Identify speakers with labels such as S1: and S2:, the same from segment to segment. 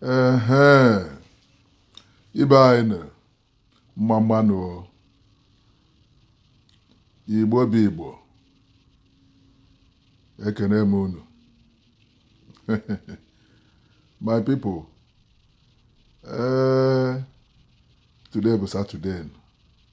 S1: ehe ibe anyị nụ mma mma nụ o. igbo bụ igbo ekene m unu my people ee today bụ saturday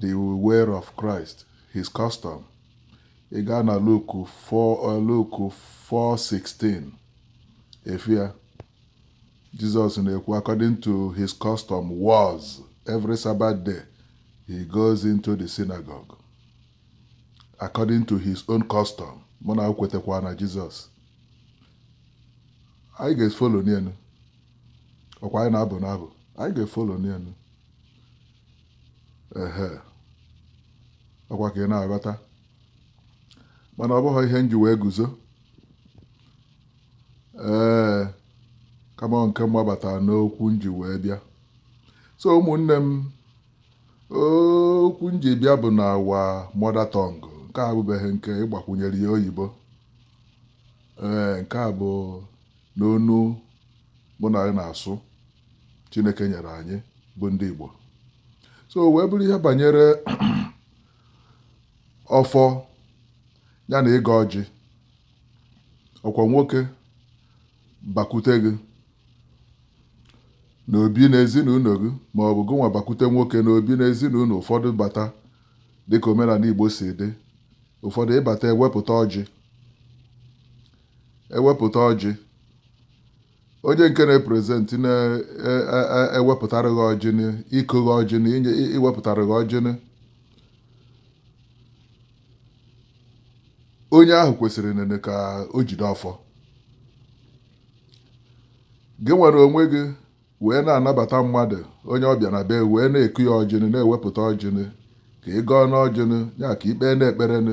S1: The Way of Christ, His Custom. Ị gaa na Luke 4:16 ị fụ ya Jesus na-ekwu according to his custom was every Sabbath day he goes into the synagogue according to his own custom mana kwetakwa na Jesus anyị ga-efolo nya nụ ọkwa anyị na-abụ n'abụ anyị ga-efolo nya nụ ehe ọkwa ka ị na-aghọta mana ọ bụghị ihe nji wee guzo ee kama nke mgbabata n'okwu nji wee bịa so ụmụnne m okwu nji bịa bụ na our mother tongue nke a abụbeghị nke ịgbakwunyere ya oyibo ee nke a bụ n'onu mụ na gị na-asụ Chineke nyere anyị bụ ndị Igbo so wee bụrụ ihe banyere ọfọ ya na ịgọ ọjị ọkwa nwoke bakwute gị n'obi na ezinụlọ gị ma ọ bụ gị nwa bakwute nwoke n'obi na ezinụlọ ụfọdụ bata dịka omenala Igbo si dị ụfọdụ ị bata ewepụta ọjị ewepụta ọjị onye nke na-eprezentị na-ewepụtara gị ọjị na ịkụ gị ọjị na inye i- iwepụtara gị ọjị nụ onye ahụ kwesịrị nene ka o jide ọfọ gị were onwe gị wee na-anabata mmadụ onye ọbịa na be wee na-eku ya ọjị nụ na-ewepụta ọjị nụ ka ị gọọ nụ ọjị nụ ya ka ị kpee nụ ekpere nụ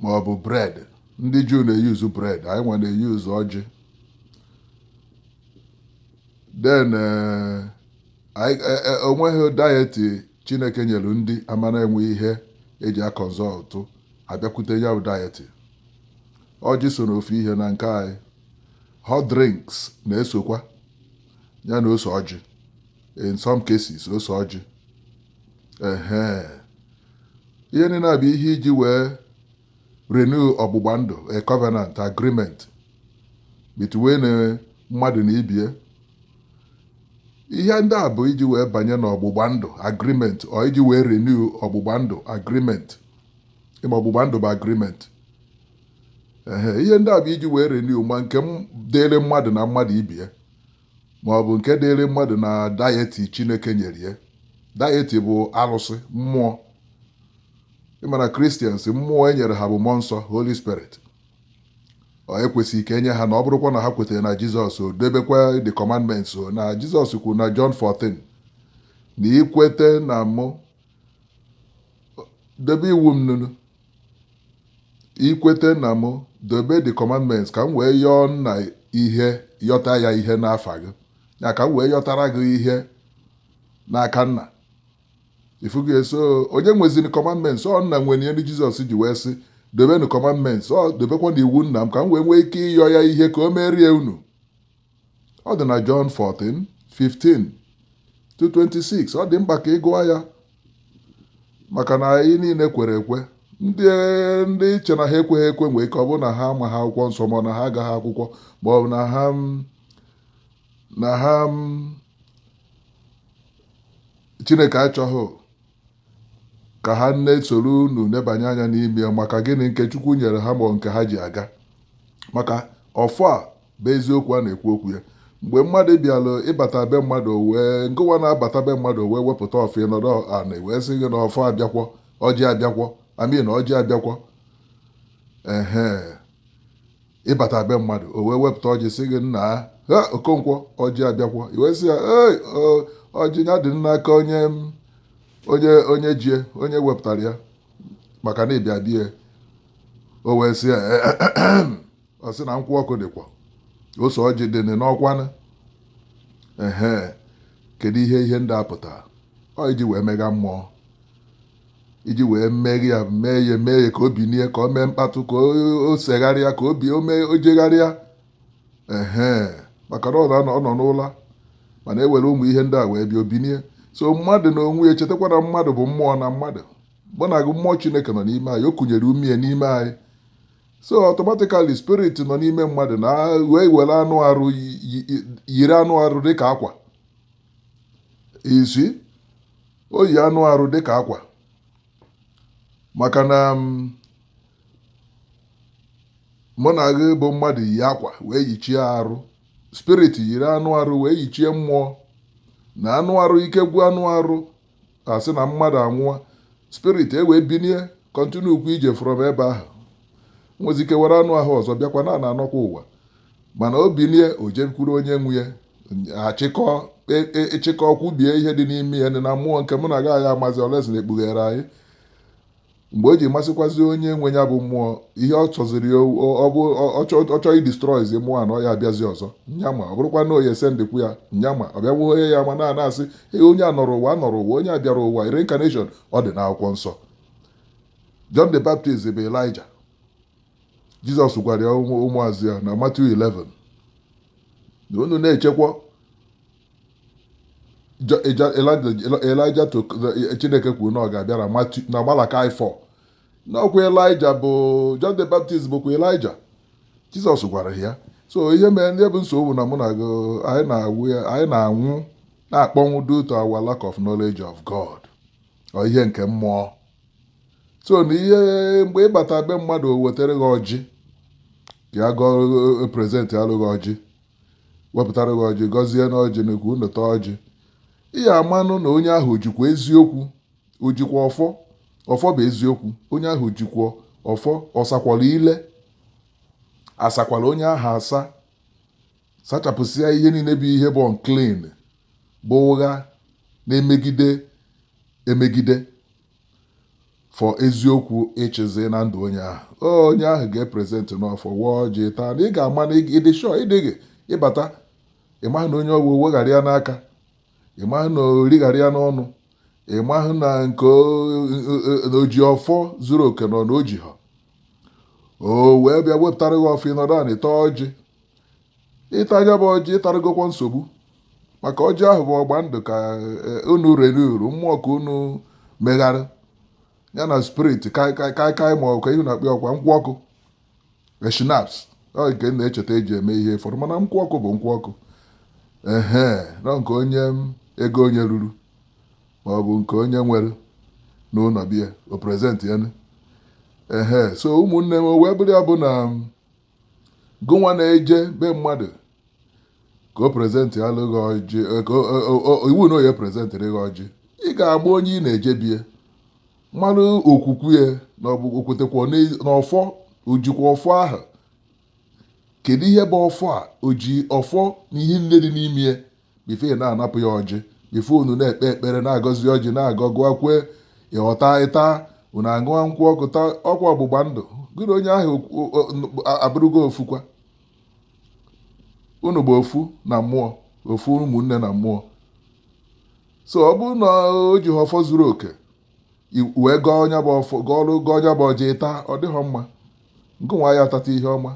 S1: ma ọ bụ bread ndị juu na-eyuzu bread anyị nwa na-eyuzu ọjị then eh, anyị- eh, eh, onweghị deity chineke nyere ndị ama na-enwe ihe eji aconsult abịakwute ya bụ deity ọjị so n'ofu ihe na nke anyị hot drinks na-esokwa ya na ose ọjị in some cases ose ọjị ehe ihe niile a bụ ihe iji wee renew ọgbụgba ndụ a covenant agreement between eh, mmadụ na ibie ihe ndị a bụ iji wee banye n'ọgbụgba ndụ agreement or iji wee renew ọgbụgba ndụ agreement ịma ọgbụgba ndụ bụ agreement ehe ihe ndị a bụ iji wee renew ma nke dịịrị mmadụ na mmadụ ibie ma ọ bụ nke dịịrị mmadụ na deity Chineke nyere ya. Deity bụ arụsị, mmụọ. Ị ma na Christians, mmụọ e nyere ha bụ mmụọ nsọ, Holy Spirit. Or e kwesịrị ka e nye ha na ọ bụrụkwa na ha kweta na Jizọs o debekwa the commandments o na Jizọs kwuru na John 14 na i kweta na mụ debe iwu m nunu i kweta na m dobe the commandments ka m wee yọọ nna ihe yọta ya ihe n'afa gị ya ka m wee yọtara gị ihe n'aka nna ifugo ya so onye nweziri commandments ọ nna nwere ihe ndị jizọs ji wee sị dobenụ commandments or dobekwanụ iwu nna m ka m wee nwee ike ịyọ ya ihe ka o merie unu ọ dị na Jọn 14 15 to 26 ọ dị mkpa ka ị gụọ ya maka na anyị niile kwere ekwe ndị ndị i che na ha ekweghị ekwe nwee ike ọ bụrụ na ha amaghị akwụkwọ nsọ ma ọ na ha agaghị akwụkwọ ma ọ bụ na ha mm, na ha mm, chineke achọghị ka ha nne soro unu nebanye anya n'ime ya maka gịnị nke chukwu nyere ha ma ọ nke ha ji aga maka ọfọ a bụ eziokwu a na-ekwu okwu ya mgbe mmadụ bịara ịbata be mmadụ wee ngụwa na-abata be mmadụ wee wepụta ọfọ ịnọdụ ana wee sị gị na ọfọ abịakwọ ọjị abịakwọ I mean na ọjị abịakwọ ehe ịbata be mmadụ o wee wepụta ọjị sị gị nnaa okonkwo ọjị abịakwọ i wee sị ya ee ọjị ya dị n'aka onye onye onye jie onye wepụtara ya maka na ịbịa bie o wee sị ya ọ sị na nkwụ ọkụ dịkwa ose ọjị dị nị n'ọkwanụ ehe kedu ihe ihe ndị a pụtara ọ iji wee mega mmụọ iji wee meghe ya mee ya mee ya ka o binie ka o mee mkpatụ ka o- o segharịa ka obi o mee o jegharịa ehe maka na ọ nọ- ọ nọ n'ụla mana e were ụmụ ihe ndị a wee bịa o binie so mmadụ na onwe ya chetakwa na mmadụ bụ mmụọ na mmadụ mụ na gị mmụọ chineke nọ n'ime anyị o kunyere umie n'ime anyị so automatically spirit nọ n'ime mmadụ na wee were anụ arụ yiri anụ arụ dịka akwa isi o yi anụ arụ dịka akwa maka na mm, mụ na gị bụ mmadụ yi akwa wee yichie arụ spirit yiri anụ arụ wee yichie mmụọ na anụ arụ ike gwụ anụ arụ a sị na mmadụ anwụọ spirit e wee binie continue ụkwụ ije from ebe ahụ nwezi ike were anụ ahụ ọzọ bịakwa na na-anọkwa ụwa mana o binie o jekwuru onye nwe ya achịkọ e- e- ịchịkọ kwubie ihe dị n'ime ya dị na mmụọ nke mụ na gị anyị amazi unless na e kpughere anyị mgbe o ji masịkwazi onye nwe ya bụ mmụọ ihe ọ chọziri ọ bụ ọ chọọ idestroyzi mmụọ a na ọ ya abịazi ọzọ anyị ama ọ bụrụkwa na ọ ya-esendkwu ya anyị ama ọ bịa nweghị ya ma na na-asị ee onye a nọrọ ụwa nọrọ ụwa onye a bịara ụwa reincarnation ọ dị n'akwụkwọ nsọ John the Baptist bụ Elijah Jizọs gwara ya ụmụazụ ya na Matthew 11 na unu na-echekwa Elijah Chineke kwuru na ọ ga-abịa na Malachi 4 na ọkwa Elijah bụ John the Baptist bụkwa Elijah Jizọs gwara ya so ihe mere ndị bụ nsogbu na mụ na gị anyị na-anwụ na-akpọnwụ due to our lack of knowledge of God or ihe nke mmụọ so na ihe mgbe ị bata be mmadụ o wetara gị ọjị ya gọọ presentịalụ gị ọjị wepụtara gị ọjị gọzie n'ọjị na ka unu taa ọjị ị ya-amanụ na onye ahụ o jikwa eziokwu o jikwa ọfọ ọfọ bụ eziokwu onye ahụ o jikwa ọfọ ọ sakwara ile a sakwara onye ahụ asa sachapụsịa ihe niile bụ ihe bụ unclean bụ ụgha na-emegide emegide for eziokwu ịchịzi na ndụ onye ahụ onye ahụ ga-epresentịnụ ọfọ waa ọjị taa na ị ga-ama na ị dị sure ị dịghị ị bata ị maghị na onye ọgwụ weghara ya n'aka ị maghị na o righara ya n'ọnụ ị maghị na o ji ọfọ zuru oke nọ na o jiha o wee bịa wepụtara gị ọfọ ị nọdụ anị taa ọjị ị taa ya bụ ọjị ị tarugokwa nsogbu maka ọjị ahụ bụ ọgba ndụ ka eh, unu rere uru mmụọ ka unu megharị ya na spirit kaikai ma ọ bụ ihe a na-akpọkwa nkwụ ọkụ schnapps eh, nke na-echeta e ji eme ihe fọrọ mana nkwụ ọkụ bụ nkwụ ọkụ ehe nọ nke onye ego onye ruru ma ọ bụ nke onye nwere n'ụlọ be ya o present ya ehe so ụmụnne m wee bụrụ ya bụ na gụnwa na-eje be mmadụ ka o presentịalụ gị ọjị eh, ka o- o- o- iwu na ọ ya-epresentịrị gị ọjị ị ga-agba onye ị na-eje be ya mara okwukwe ya na ọ bụ o kwetekwa n'ezi- na ọfọ o jikwa ọfọ ahụ kedu ihe bụ ọfọ a o ji ọfọ na ihe nine dị n'ime ya before ị na-anapụ ya ọjị before unu na-ekpe ekpere na-agọzi ọjị na-agọ gụọ kwe ịghọta ịta unu aṅụọ nkwụ ọkụ ta ọkwa ọgbụgba ndụ gị na onye ahụ abụrụgo ofukwa unu bụ ofu na mmụọ ofu ụmụnne na mmụọ so ọ bụrụ na o jihọ ọfọ zuru oke wee gọọ nya bụ ọfọ gọọlụ gọọ nya bụ ọjị taa ọ dịhọ mma nke nwa ya atata ihe ọma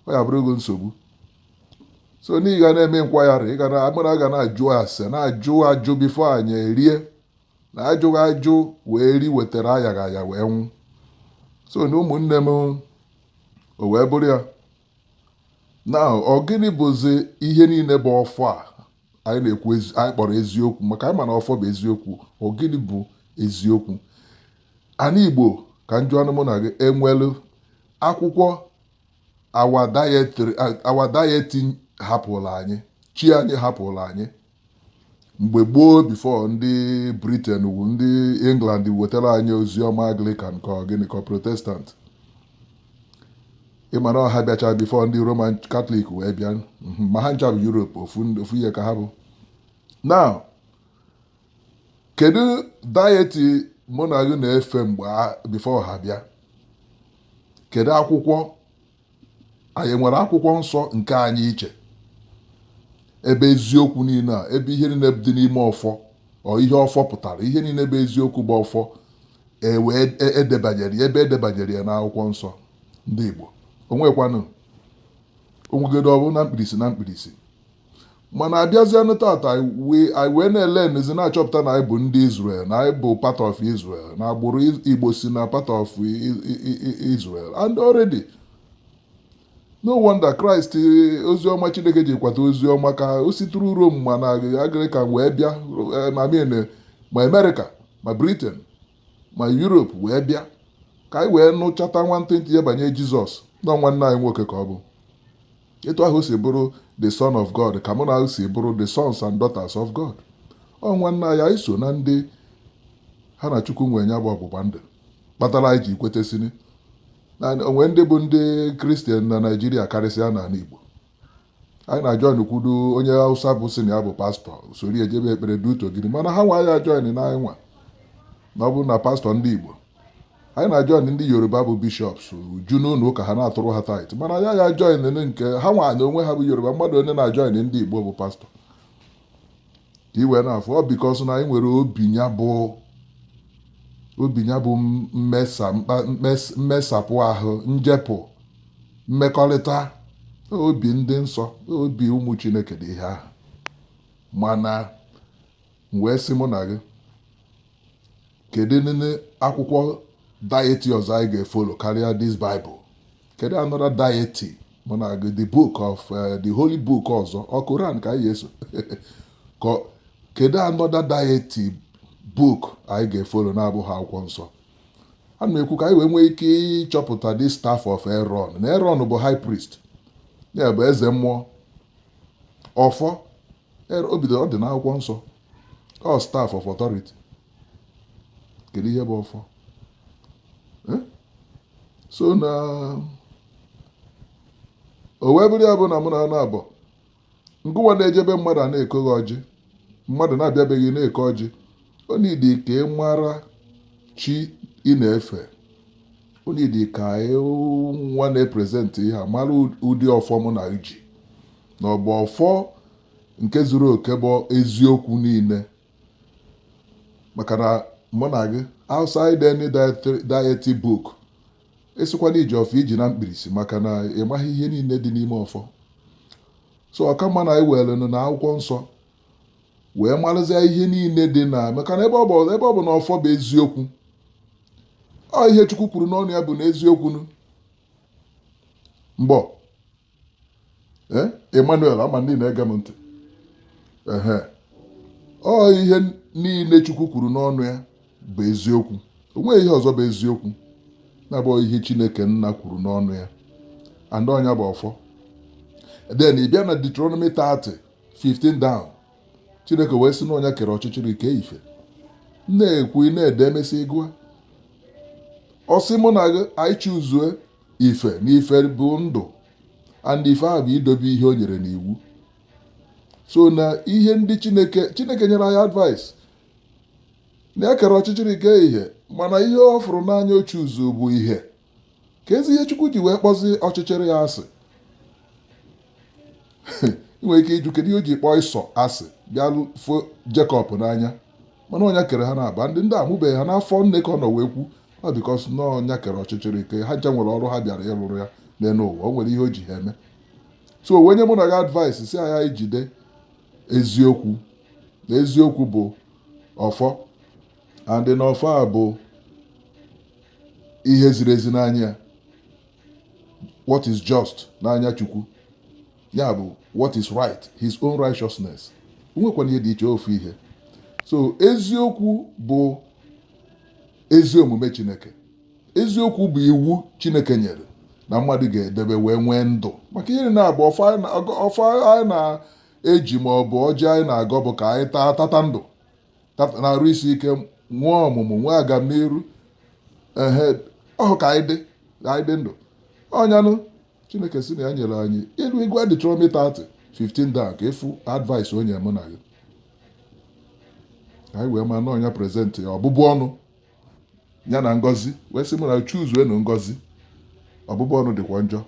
S1: ọ ya bụrụgo nsogbu so na ị ga na-eme enquiry ị ga na mara ga na-ajụ ase na-ajụ ajụ before anyị erie na ajụghị ajụ wee ri wetara ayaghị aya wee nwụ so na ụmụnne m o wee bụrụ ya na ọ gịnị bụzi ihe niile bụ ọfọ a anyị na-ekwu anyị kpọrọ eziokwu maka anyị ma na ọfọ bụ eziokwu ọ gịnị bụ eziokwu ana Igbo ka m jụanụ mụ na gị enwelu akwụkwọ our deity our deity hapụrụ anyị chi anyị hapụrụ anyị mgbe gboo before ndị Britain wu ndị England wetara anyị ozi ọma Anglican ka gịnị ka Protestant ị ma na ọ ha bịacha before ndị Roman Catholic wee bịa mhm, ma ha ncha bụ Europe ofu ihe ka ha bụ now kedu deity mụ na gị na-efe mgbe before ha bịa kedu akwụkwọ anyị nwere akwụkwọ nsọ nke anyị iche ebe eziokwu niile a ebe ihe niile dị n'ime ọfọ or ihe ọfọ pụtara ihe niile bụ eziokwu bụ ọfọ e wee debanyere ebe e debanyere ya n'akwụkwọ nsọ ndị Igbo o nwekwanụ o nwegodu ọ bụ na mkpirisi na mkpirisi mana abịazianụ tata anyị wee na-elenezi na-achọpụta na anyị bụ ndị Israel na anyị bụ part of Israel na agbụrụ Igbo si na part of Israel and already no wonder Christ eh, oziọma Chineke ji kwata oziọma ka o situru Rome ma na Anglican wee bịa eh, I mean eh, ma America ma Britain ma Europe wee bịa ka anyị wee nụchata nwantịntị ya banye Jizọs na ọ nwanne anyị nwoke ka ọ bụ Etu ahụ o si bụrụ the son of God ka mụ na gị si bụrụ the sons and daughters of God. Ọ nwanne anyị anyị so na ndị ha na Chukwu nwe nya bụ ọgbụgba ndụ kpatara anyị ji kwetesini na o nwe ndị bụ ndị Kristian na Naijiria karịsịa n'ala Igbo anyị na join kwudo onye Hausa bụ sị na ya bụ pastọ soro ya jebe ekpere due to gịnị mana ha nwa ya join na anyị nwa na ọ bụrụ na pastọ ndị Igbo Anyị na-ajoin ndị Yoruba bụ bishops ju n'ụlọ ụka ha na-atụrụ ha tithe mana ya ya join nke ha nwa n'onwe ha bụ Yoruba mmadụ onye na-ajoin ndị Igbo bụ pastor ka iwe na-afụ ọ because na anyị nwere obi nya bụ obi nya bụ mmesapụ ahụ njepụ mmekọrịta obi ndị nsọ obi ụmụ Chineke dị ihe ahụ mana M wee sị mụ na gị, kedu nene akwụkwọ deity ọzọ anyị ga-efollow karịa this Bible? Kedu another deity mụ na gị the book of eh, the holy book ọzọ ọ Koran ka anyị ga-eso Ka- kedu another deity book anyị ga-efollow na-abụghị akwụkwọ nsọ a na-ekwu ka anyị wee nwee ike ịchọpụta the staff of Aaron na Aaron bụ high priest ya bụ eze mmụọ ọfọ Ebe o bidoro ọ dị n'akwụkwọ nsọ. Ọ staff of authority. Kedu ihe bụ ọfọ? Eh? So na o wee bụrụ ya bụ na mụ na anụ abụọ ngụwa na-ejebe mmadụ a na-ekoghị ọjị mmadụ na-abịabeghị na-eke ọjị ọ needi ka ị mara chi ị na-efe ọ needi ka ị nwa na-epresenti ihe a mara ụdị ọfọ mụ na gị ji na ọ bụ ọfọ nke zuru oke bụ eziokwu niile maka na mụ na gị outside any deity book ị sịkwa na i ji ọfọ i ji na mkpirisi maka na ị maghị ihe niile dị n'ime ọfọ so ọ ka mma na anyị were na akwụkwọ nsọ wee marụzie ihe niile dị na maka na ebe ọ bụ na ọfọ bụ eziokwu ọ ihe Chukwu kwuru n'ọnụ ya bụ na eziokwu mbọ ee Emmanuel ama ndị na-ege m ntị ehe ọ ihe niile Chukwu kwuru n'ọnụ ya bụ eziokwu o nweghị ihe ọzọ bụ eziokwu na-abụghị ihe Chineke nna kwuru n'ọnụ ya and ọ nya bụ ọfọ then ị bịa na Deuteronomy 30 15 down Chineke wee sị na ọ nya kere ọchịchịrị kee ife na-ekwu ị na-ede e mesịa ị gụa ọ sị mụ na gị anyị choose ife na ife bụ ndụ and ife ahụ bụ idobe ihe o nyere n'iwu so na ihe ndị Chineke Chineke nyere anyị advice na e kere ọchịchịrị kee ihe mana ihe ọ fụrụ n'anya o choose bụ ihe kezi ihe Chukwu ji wee kpọzi ọchịchịrị ya asị ị nwere ike ịjụ kedu ihe o ji kpọọ Esau asị bịa fụ Jacob n'anya mana ọ nya kere ha naabọ ndị ndị amụbeghị ha n'afọ nne ka ọ nọ wee kwu ọ because na ọ nya kere ọchịchịrị kee ha ncha nwere ọrụ ha bịara ịrụrụ ya n'elu ụwa o nwere ihe o ji ha eme so o wee nye mụ na gị advice sị anyị jide eziokwu na eziokwu bụ ọfọ and na ọfọ a bụ ihe ziri ezi n'anya ya what is just n'anya chukwu ya bụ what is right his own righteousness nwekwana ihe dị iche ofu ihe so eziokwu bụ ezi omume Chineke. Eziokwu bụ iwu Chineke nyere na mmadụ ga-edebe wee nwee ndụ maka ihe na-abụ ọfọ anyị na-eji ma ọ bụ ọjị anyị na-agọ bụ ka anyị taa tata ndụ na arụ isi ike nwee ọmụmụ nwee agamniru ehe ọhụ ka anyị dị ka anyị dị ndụ ọ nya nụ Chineke sị na ya nyere anyị ị luo ị gụa Deuteronomy 30 15 daa ka ị fụ advice o nyere mụ na gị anyị wee ma na ọ nya present ya ọbụbụ ọnụ ya na ngọzi wee sị m na choose nụ ngọzi ọbụbụ ọnụ dịkwa njọ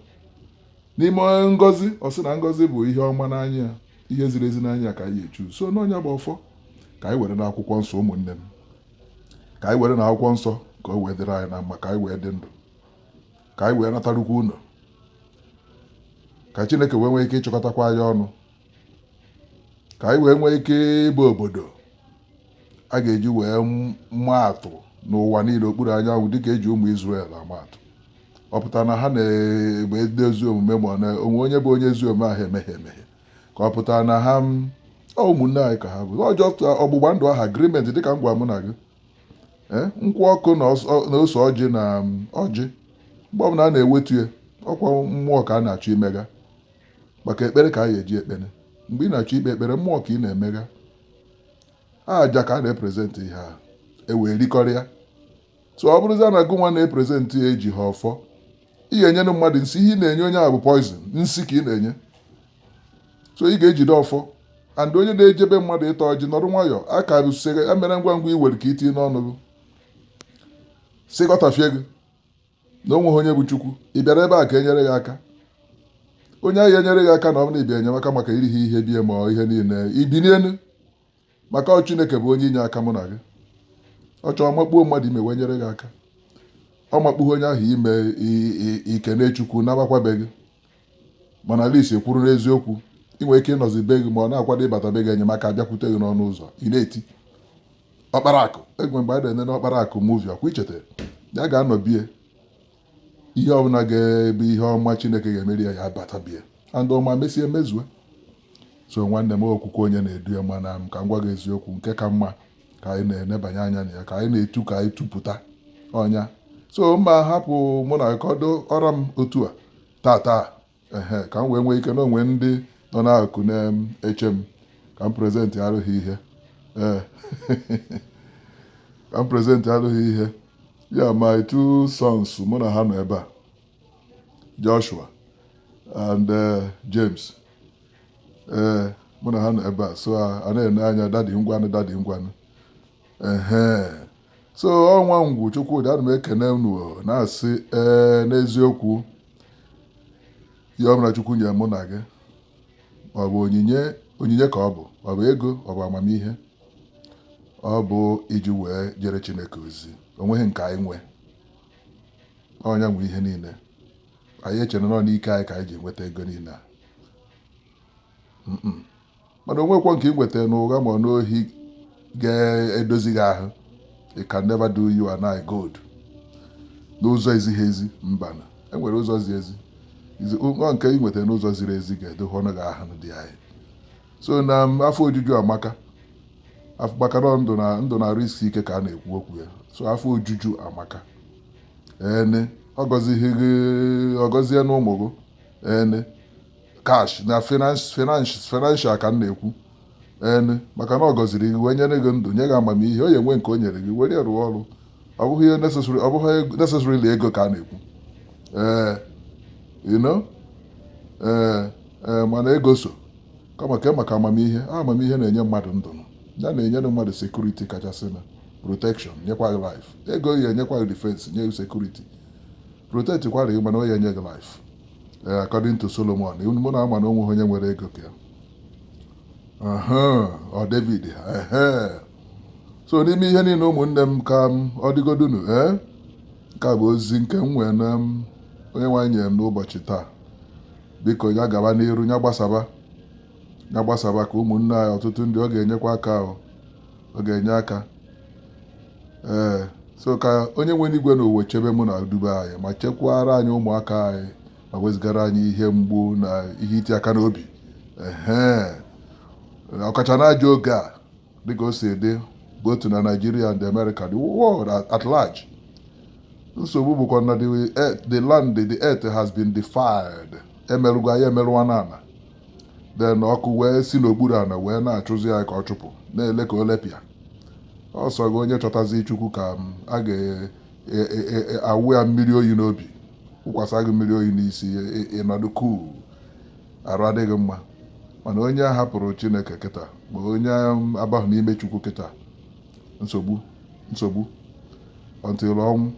S1: n'ime ngọzi ọ sị na ngọzi bụ ihe ọma n'anya ya ihe ziri ezi n'anya ka anyị choose na ọ nya bụ ọfọ ka anyị were na akwụkwọ nsọ ụmụnne m ka anyị were na akwụkwọ nsọ ka o wee dịrị anyị na mma ka anyị wee dị ndụ ka anyị wee natarukwa ụnọ ka chineke wee nwee ike ịchịkọtakwa anyị ọnụ ka anyị wee nwee ike ịbụ obodo a ga-eji wee maa atụ n'ụwa niile okpuru anyanwụ dịka e ji ụmụ Izrel ama atụ ọ pụtara na ha na-abụ ndị ezi omume mana o nwee onye bụ onye ezi omume ahụ emehie emehie ka ọ pụtara na ha ụmụnne anyị ka ha bụ ọjọọ ọgbụgba ndụ ahụ agreement dịka m gwa mụ na gị Eh, nkwụ ọkụ na ose ọjị na um, ọjị mgbe ọbụla a na-ewetu ya ọ kwa mmụọ ka a na-achọ imega maka ekpere ka a ga-eji ekpere mgbe ị na-achọ ikpe ekpere mmụọ ka ị na-emega aja ka a na-epresent ihe ahụ e wee rikọrịa so ọ bụrụzia na gụnwa na-epresent ya ejihọ ọfọ ị ga-enyere mmadụ nsị ihe ị na-enye onye ahụ bụ poison nsị ka ị na-enye so ị ga-ejide ọfọ and onye na-eje be mmadụ ịta ọjị nọrọ nwayọọ aka usere emere ngwa ngwa i were ka i tinye n'ọnụ gị sị gọtafie gị na o nweghị onye bụ Chukwu ị bịara ebe a ka e nyere gị aka onye ahụ enyere gị aka na ọ bụrụ na ị bịa enyemaka maka i rihọ ihe be ya ma ọ ihe niile i binie elu maka ọ Chineke bụ onye inye aka mụ na gị ọ chọọ makpuo mmadụ ime wee nyere gị aka ọ makpughị onye ahụ ime i- i- i kenee Chukwu nabakwa be gị mana at least ị kwụrụ n'eziokwu ị nwere ike ịnọzi be gị ma ọ na-akwado ịbata be gị enyemaka abịakwute gị n'ọnụ ụzọ ị na-eti ọkpara akụ egwe mgbe a na-ene n'ọkpara akụ movie ọ kwa i cheta ya ga-anọ be ya ihe ọbụla ga-ebe ihe ọma chineke ga-emere ya ya abata be ya and ọ ma mesie mezue so nwanne m okwukwe onye na-edu ya mana ka m gwa gị eziokwu nke ka mma ka anyị na-enebanye anya na ya ka anyị na-etu ka anyị tupụta ọ nya so mma hapụ mụ na kọdo ọra m otu a tata ehe ka m wee nwee ike na o nwe ndị nọ n'akụkụ na-eche m ka m prezentịarụ ha ihe ee ka m prezentịarụ ha ihe ya my two sons mụ na ha nọ ebe a Joshua and eh, James ee mụ na ha nọ ebe a so a na-ene anya dadi ngwanụ dadi ngwanụ ehe so ọnwa ngwu chukwudi ana m ekene unu na-asị ee n'eziokwu ihe ọbụla chukwu nye mụ na gị ọ bụ onyinye onyinye ka ọ bụ ọ bụ ego ọ bụ amamihe ọ bụ iji wee jere chineke ozi onweghị nke anyị nwe ọ nya nwe ihe niile anyị echere na ọ n'ike anyị ka anyị ji enweta ego niile a mana onwekwọ nke ị nweta n'ụgha ma n'ohi ga-edozi gị ahụ it can never do you and I good n'ụzọ ezighị ezi mbana enwere ụzọ zi ezi nke ị nweta n'ụzọ ziri ezi ga-edo gị ọnụ gị ahụ dị anyị so na afọ ojuju amaka maka na ndụ na arụ isi ike ka a na-ekwu okwu ya so afọ ojuju amaka ene ọ gọzighị gị ọ gọzie ya n'ụmụ gị ene cash na financial ka m na-ekwu ene maka na ọ gọziri gị wee nye gị ndụ nye gị amamihe ọ ya-enwe nke o nyere gị were rụọ ọrụ ọ bụghị ihe necessary ọ bụghị necessarily ego ka a na-ekwu ee eh, you know ee eh, ee eh, mana ego so kama ke maka amamihe amamihe na-enye mmadụ ndụ ya na-enyere mmadụ security kachasị na protection nyekwa gị life ego ya-enyekwa gị defense nye gị security protect kwara gị mana o ya enye gị life ee according to Solomon mụ na ama na o nwe onye nwere ego ka ya ọ David so n'ime ihe niile ụmụnne m ka ọ dịgodunu ee nke a bụ ozi nke m nwee na onyenwe anyị nyere m n'ụbọchị taa biko ya gaba n'iru ya gbasaba ya gbasaba ka ụmụnne anyị ọtụtụ ndị ọ ga-enyekwa aka ọ ga-enye aka ee so ka onye nwe enu igwe na ụwa chebe mụ na dube anyị ma chekwara anyị ụmụaka anyị ma wezugara anyị ihe mgbu na ihe iti aka n'obi ee ọkacha na ajọ oge a dịka o si dị both na Nigeria and America the world at large nsogbu bụkwa na the land the earth has been defiled emerụgo ya emerụwana ana then ọkụ wee si n'okpuru ana wee na-achụzi ya ka ọ chụpụ na-ele ka o lepịa ọ sọ gị onye chọtazi chukwu ka a ga-awụ ya mmiri oyi n'obi wụkwasa gị mmiri oyi n'isi ị nọdụ cool arụ adị gị mma mana onye hapụrụ chineke kịta ma onye abahụ n'ime chukwu kịta nsogbu nsogbu until ọnwụ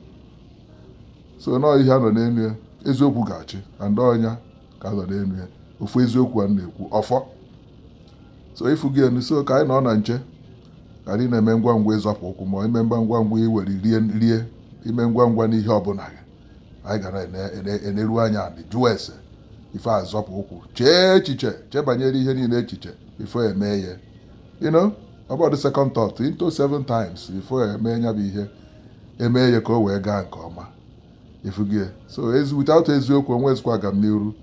S1: so na ọ ihe a nọ n'elu ya eziokwu ga-achị and ọ nya ka a nọ n'elu ya ofu eziokwu a na-ekwu ọfọ so ị fụgo ya nụ so ka anyị nọ na nche ka anyị na-eme ngwa ngwa ịzọpụ ụkwụ ma ime ngwa ngwa ngwa iwere rie rie ime ngwa ngwa n'ihe ọbụla gị anyị ga-eneru anya anị jụọ ese before azọpụ ụkwụ chee echiche chebanyere ihe niile echiche before eme ya you know about the second thought into seven times before eme ya bụ ihe eme ya ka o wee gaa nke ọma ị fụgo ya so ezi without eziokwu onwezikwa agamniru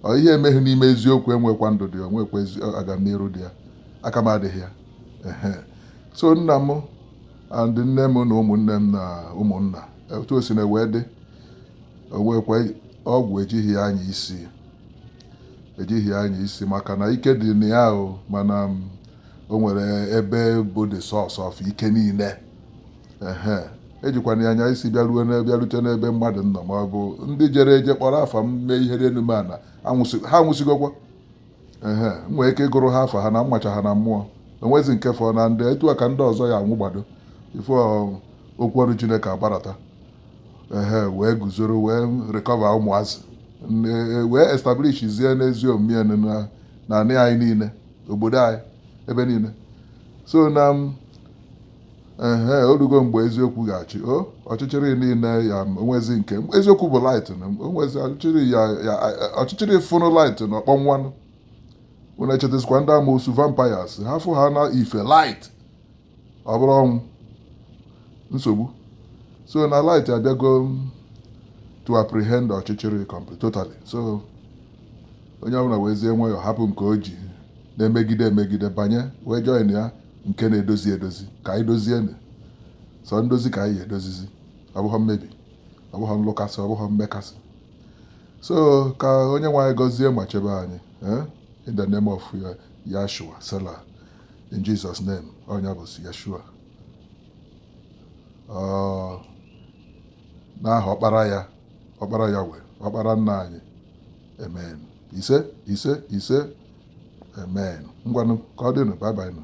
S1: ọ ihe emeghị n'ime eziokwu enwekwa ndụ dị onwekwa agamniru dị ya aka m adịghị ya so nna m and nne m na ụmụnne m na ụmụnna otu o si na wee dị onwekwa ọgwụ ejighị ya anya isi ejighị ya anya isi maka na ike dị na ya o mana o nwere ebe bụ the source of ike niile ehe ejikwana ya anya isi bịaruo na bịarute n'ebe mmadụ nọ ma ọ bụ ndị jere eje kpọrọ afa m mee ihe dị enu mee ana anwụsị- ha anwụsịgokwa ehe m nwee ike ịgụrụ ha afa ha na m macha ha na mmụọ enwezi nke fọ na ndị etu a ka ndị ọzọ ya anwụgbado before ọ- okwu ọnụ chineke agbarata ehe wee guzoro wee recover ụmụazị N- e- wee establish zie n'ezi omume ya na na anị anyị niile obodo anyị ebe niile so na ehe orugo mgbe eziokwu ga-achị o ọchịchịrị niile ya onwezi nke eziokwu bụ light na onwezi ọchịchịrị ya ya ọchịchịrị fụnụ light na ọ kpọnwanụ unu echetazikwa ndị amoosu vampires ha fụ ha na ife light ọ bụrụ ọnwụ nsogbu so na light abịago to apprehend ọchịchịrị complete totally so onye ọbụla wezie nwayọọ hapụ nke o ji na-emegide emegide banye wee join ya nke na-edozi edozi ka anyị dozienụ sọ ndozi ka anyị edozizi ọ bụghị mmebi ọ bụghị nlụkasị ọ bụghị mmekasị so ka onye nwe anyị gọzie ma chebe anyị eh? in the name of uh, Yahshua selah in Jesus name onye bụ Yahshua n'aha ọkpara ya ọkpara ya wee ọkpara nna anyị amen ise ise ise amen ngwanụ ka ọ dịnụ bye bye nụ